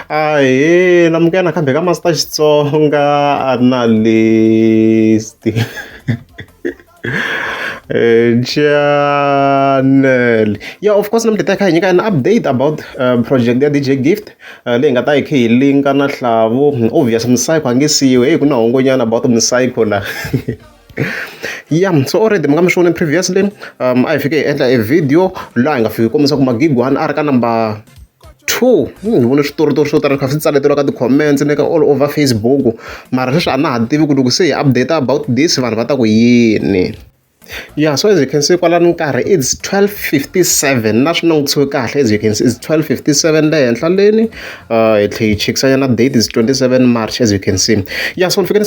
Ahee, amukela nakambe ka Master Xitsonga Analyst. Eh, channel yeah of course namuntlha ta kha hi nyika an update about uh, project ya dj gift uh, leyi nga ta hi kha hi linka na hlavu obvious msayikho a nge siyiwe heyi ku na hongonyana about msayikho la ya so already mi nga mi swi vone previously um a hi fike hi endla e video laha hi nga fiki kombisa ku magigwani a ri ka number two hmm, ni vone switoritori swo tala kha swi tsaleteriwa ka ti-comments ni ka all over facebook mara sweswi a na ha tivi ku loko se hi update about this vanhu va ta ku yini yeah so as you can see kwalani nkarhi it's 1257 na swi langutisiwe kahle as you can see it's 1257 le henhla leni uh, hi tlhe hi chekisanyana date is 27 march as you can see yeah so ni fike ni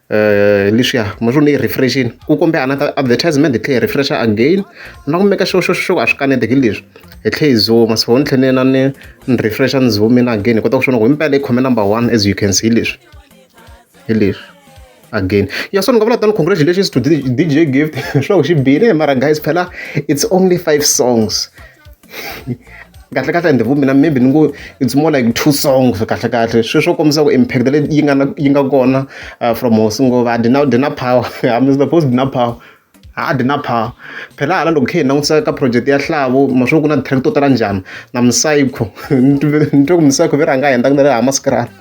leswiya ma swo ni yi refresh-ini ku kumbe another advertisement hi tlhe hi refresh-a again na ku make sure sure sure ku a swi kaneteki leswi hi tlhe hi zoom-a so ni tlhe ni na ni ni refresh-a ni zoom-ina again hi kota ku swi vona ku himpela hi khome number one as you can see hi leswi hi leswi again ya so ni nga vula tani congratulations to D_J Gift swa ku xi bile mara guys phela it's only five songs. kahlekahle and vumbi na maybe ni ngo it's more like two songs kahlekahle sweswi swo kombisa ku impact leyi yi nga na yi nga kona uh, from hosi ngova dina dina power i'm the post dina power ha dina power phela hala loko khe hi langutisa ka project ya hlavo maswo ku na track to tala njhani na msayikho ni twe ku msayikho ve rhanga henda ku na le ha maskrala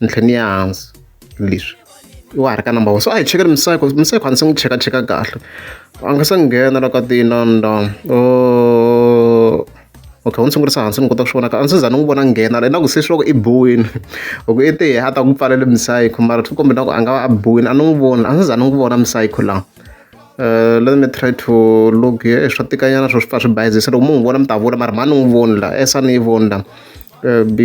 ni tlhela ni ya hansi leswi i wa ha ri ka number one so a hi chekeni museko museko a ndzi se n'wi chekacheka kahle a nga se nghena la ka tinanda o okay u ni sungurisa hansi ni kota ku swi vonaka a ndzi se za ni n'wi vona nghena la na ku se swi loko i biwile hi ku i te a ta ku pfalele museko mara swi kombe na ku a nga va a biwile a ni n'wi voni a ndzi se za ni n'wi vona museko laha. let me try to look here swa tikanyana swo swi pfa swi bayizisa loko mu n'wi vona mi ta vula mara mhani n'wi voni la s a ni yi voni la b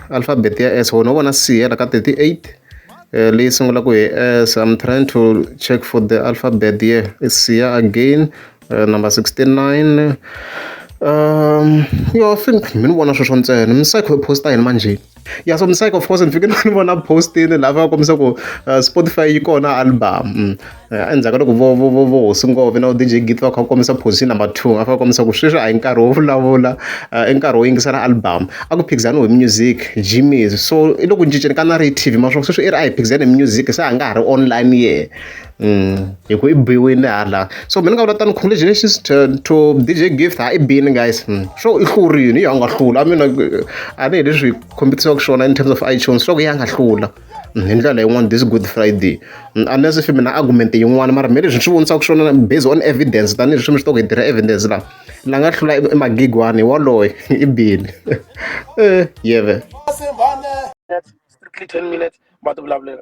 alphabet ya s wona u vona c hela ka 38 Eh, leyi sungulaka hi s i'm trying to check for the alphabet here isiya again Uh, number 69 um yo i think mi ni vona sweswo ntsena misayikho yi posta yini manjheni ya so misayikho of course ni fike ni vona postini laha va kombisa ku uh, spotify yi kona album mm. uh, endzhaku ka loko vo vo vo vo hosi ngove na udj git va kha va kombisa position number two a fa kombisa ku sweswi a hi nkarhi wo vulavula uh, i nkarhi wo yingisela album a ku phikizaniwe hi music gms so i loko cinceni ka na ri tv maswaku sweswi i ri a hi phikizani hi music se a nga ha ri online ye hi ku i biwile hala so mina ni nga vula tano congratulations to to D_J Gift ha i bini guys sure i hlurile i ya nga hlula a mina a ni hi leswi hi kombisiwaka swona in terms of iTunes sure ku ya nga hlula hi ndlela yin'wana this good friday unless if mina argument yin'wana mara me leswi ni swi vonisaka swona based on evidence tanihileswi mi swi tiva ku hi tirha evidence laha la nga hlula i magigwani waloye i bini yeve strictly ten minutes va ti vulavulela